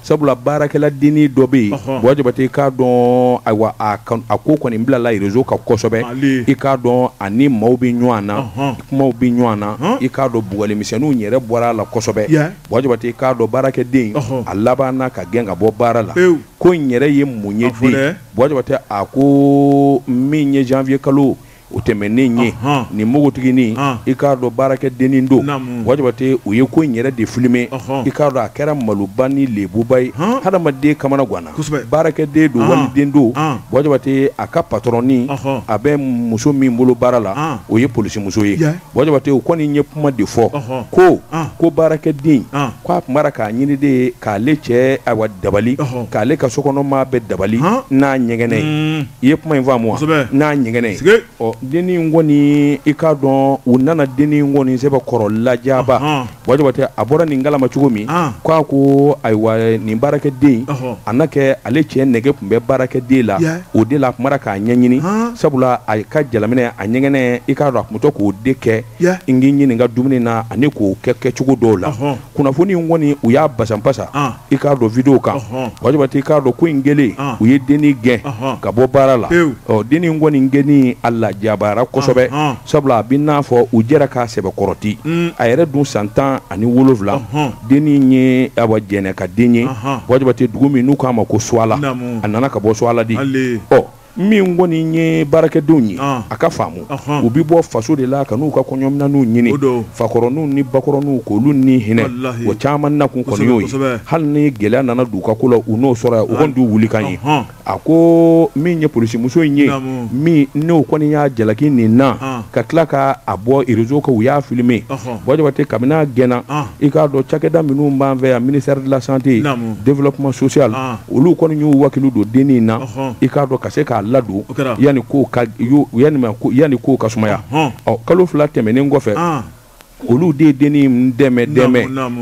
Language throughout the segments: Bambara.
sabula baarakɛla dennin dɔ bɛ yen bɔ jabate i k'a dɔn ayiwa a ko kɔni bilala rezo kan kosɛbɛ i k'a dɔn ani maaw bɛ ɲɔgɔn na kumaw bɛ ɲɔgɔn na i k'a dɔn bugɔlimisɛnninw yɛrɛ bɔra a la kosɛbɛ bɔ jabate i k'a dɔn baarakɛden a labanna ka gɛn ka bɔ baara la ko in yɛrɛ ye mun ye den bɔ jabate a ko min ye janviye kalo o tɛmɛnen ye nin npogotiginin i k'a dɔn baarakɛdennin don bɔ jabate u ye ko in yɛrɛ de filime i k'a dɔn a kɛra maloba ni lebuba ye hadamaden kamana ganna baarakɛden don waliden don bɔ jabate a ka patɔrɔni a bɛ muso min bolo baara la o ye polisimuso ye bɔ jabate o kɔni ye kuma de fɔ ko ko baarakɛden K' a tun b'a ra k'a ɲini de ye k'ale cɛ ayiwa dabali k'ale ka sokɔnɔmaa bɛɛ dabali n'a ɲɛgɛnɛ ye i ye kuma in faamu wa n'a ɲɛgɛnɛ ye ɔ dennin kɔni i k'a dɔn u nana dennin kɔni sɛbɛkɔrɔ lajaba bɔ jabate a bɔra nin kalama cogo min k'a ko ayiwa nin baarakɛden a na kɛ ale cɛ nɛgɛ tun bɛ baarakɛden la o de la a tun b'a ra k'a ɲɛɲini sabula a ka jalaminɛ a ɲɛgɛnɛ i k'a dɔn a tun bɛ to k'o de kɛ n k'i ɲininka dumuni na ani k'o kɛ kɛcogo dɔw la kunnafoni in kɔni u y'a basanpasa i k'a dɔn wideyo kan bɔ jabate i k'a dɔn ko in kɛlen u ye dennin gɛn ka bɔ baara la ɔ dennin kɔni gɛnni a lajabara kosɛbɛ sabula a bɛ n'a fɔ u jɛra k'a sɛbɛkɔrɔ ti a yɛrɛ dun san tan ani wolowula dennin ye awa jɛnɛka den ye bɔ jabate dugu min n'u k'a ma ko suwala a nana ka bɔ suwala de ɔ min kɔni ye baarakɛdenw ye ah. a ka faamu u bɛ bɔ faso de la ka n'u ka kɔɲɔminɛnw ɲini fakɔrɔninw ni bakɔrɔninw k'olu ni hinɛ o caman nakun kɔni y'o ye hali ni gɛlɛya nana don u ka ko la u n'o sɔrɔ u kɔni du wuli kan ye a ko min ye polisimuso in ye min n'o kɔni y'a jalaki nin na ah. ka tila ka a bɔ rezo kan u y'a filime bɔ jabate kabini a gɛnna ah. i k'a dɔn cakɛda minnu b'an fɛ yan ministère de la santé développement social olu kɔni y'u wakilu don dennin in na i k'a dɔn ka se k'a ladon yani ko ka sumaya ɔ kalo fila tɛmɛnen kɔfɛ olu de dennin dɛmɛ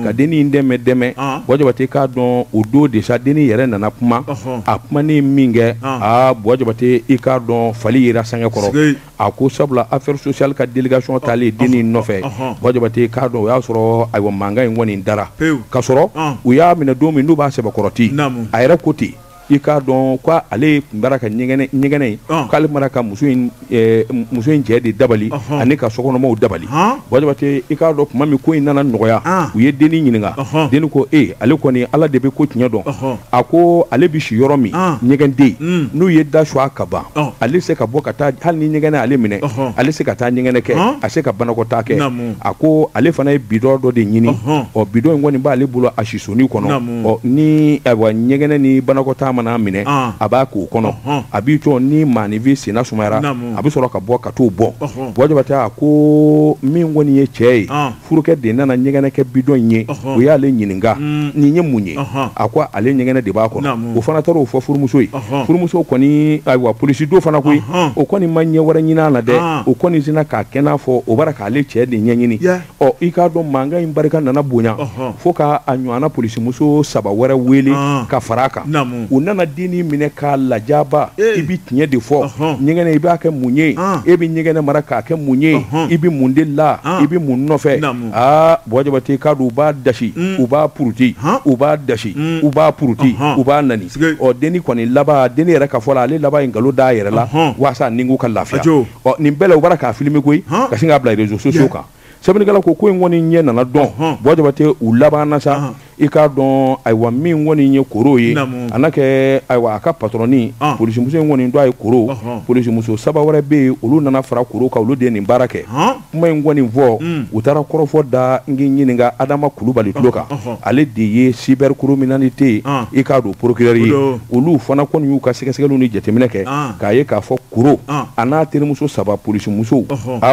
ka dennin dɛmɛ bɔ jabate k'a dɔn o don de sa dennin yɛrɛ nana kuma a kumanen minkɛ aa bɔ jabate i k'a dɔn fali yera sange kɔrɔ a ko sabula affaires sociales ka délégation taalen dennin nɔfɛ bɔ jabate k'a dɔn o y'a sɔrɔ ayiwa mankan in kɔni dara ka sɔrɔ u y'a minɛ don min n'u b'a sɛbɛkɔrɔ ti a yɛrɛ ko ten i k'a dɔn k' ale ye tun b'a ra ka ɲɛgɛnɛ ye k'ale b'a ra ka muso in cɛ de dabali ani ka sokɔnɔmaw dabali bɔ jabate i k'a dɔn tuma min ko in nana nɔgɔya u ye dennin ɲininka dennin ko e ale kɔni ala de bɛ ko tiɲɛ dɔn a ko ale bɛ si yɔrɔ min ɲɛgɛn de ye n'u ye da suwa ka ban ale se ka bɔ ka taa hali ni ɲɛgɛnɛ ale minɛ ale se ka taa ɲɛgɛnɛ kɛ a se ka banakɔtaa kɛ a ko ale fana ye bidɔn dɔ de ɲini ɔ bidɔn in kɔni b'ale bolo a sisonin kɔnɔ ɔ ni ayiwa ɲɛgɛnɛ ni banakɔtaa mana minɛ Ɔn. a b'a k'o kɔnɔ Ɔhɔn. a b'i to ni maanifin senna sumayara Naamu. a bɛ sɔrɔ ka bɔ ka t'o bɔn Ɔhɔn. bɔ jabate a ko min kɔni ye cɛ ye Ɔn. furukɛ de nana ɲɛgɛnɛ kɛ bidɔn in ye Ɔhɔn. o y'ale ɲininka Mm. nin ye mun ye Ɔhɔn. a ko ale ɲɛgɛnɛ de b'a kɔnɔ Naamu. o fana taara o fɔ furumuso ye Ɔhɔn. furumuso kɔni ayiwa polisi don fana koyi Ɔhɔn. o kɔni ma ɲɛ wɛrɛ ɲini a la dɛ Ɔn. o kɔni sina k'a kɛ n'a fɔ o b'a ra k'ale cɛ de ɲɛɲini Yeah. ɔ i k'a dɔn mankan in barika nana bonya fo k'a ɲɔgɔnna polisimuso saba wɛrɛ wele ka fara a kan u nana dennin minɛ k'a lajaba i bɛ tiɲɛ de fɔ ɲɛgɛnɛ i b'a kɛ mun ye e bɛ ɲɛgɛnɛ mara k'a kɛ mun ye i bɛ mun de la i bɛ mun nɔfɛ aa bɔ jabate k'a dɔn u b'a dasi u b'a puruti u b'a dasi u b'a puruti u b'a nani ɔ dennin kɔni laban dennin yɛrɛ ka fɔ la ale laban in nkalon d'a yɛrɛ la walasa ni k'u k'a lafiya ɔ nin bɛɛ la u b'a ra k'a filime koyi ka sin k'a bila réseaux sociaux kan sɛbɛnnikɛla ko ko in kɔni ɲɛ nana dɔn bɔ jabate u labanna sa i k'a dɔn ayiwa min kɔni ye koro ye a na kɛ ayiwa a ka patɔrɔni polisimuso in kɔni tɔgɔ ye koro polisimuso saba wɛrɛ bɛ yen olu nana fara koro kan olu de ye nin baara kɛ kuma in kɔni fɔ u taara kɔrɔfɔ da n k'i ɲininka Adama Kulubali tulo kan ale de ye cybercriminalité i k'a dɔn procureur ye olu fana kɔni y'u ka sɛgɛsɛgɛliw ni jateminɛ kɛ k'a ye k'a fɔ koro a n'a terimuso saba polisimusow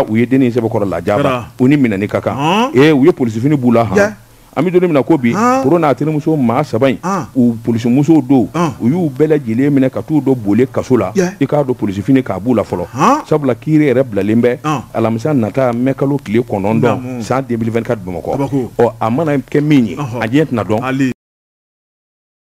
u ye dennin sɛbɛkɔrɔ lajaba u ni minɛni ka kan ee u ye polisifini b'u la ha an bɛ don min na ko bi koro n'a terimuso maa saba in u polisimusow don u y'u bɛɛ lajɛlen minɛ ka t'u don Bole kaso la i k'a dɔn polisifini ka b'u la fɔlɔ sabula kiiri yɛrɛ bilalen bɛ alamisa nata mɛkalo tile kɔnɔntɔn san deux mille vingt-quatre Bamakɔ ɔ a mana kɛ min ye a diɲɛ tɛna dɔn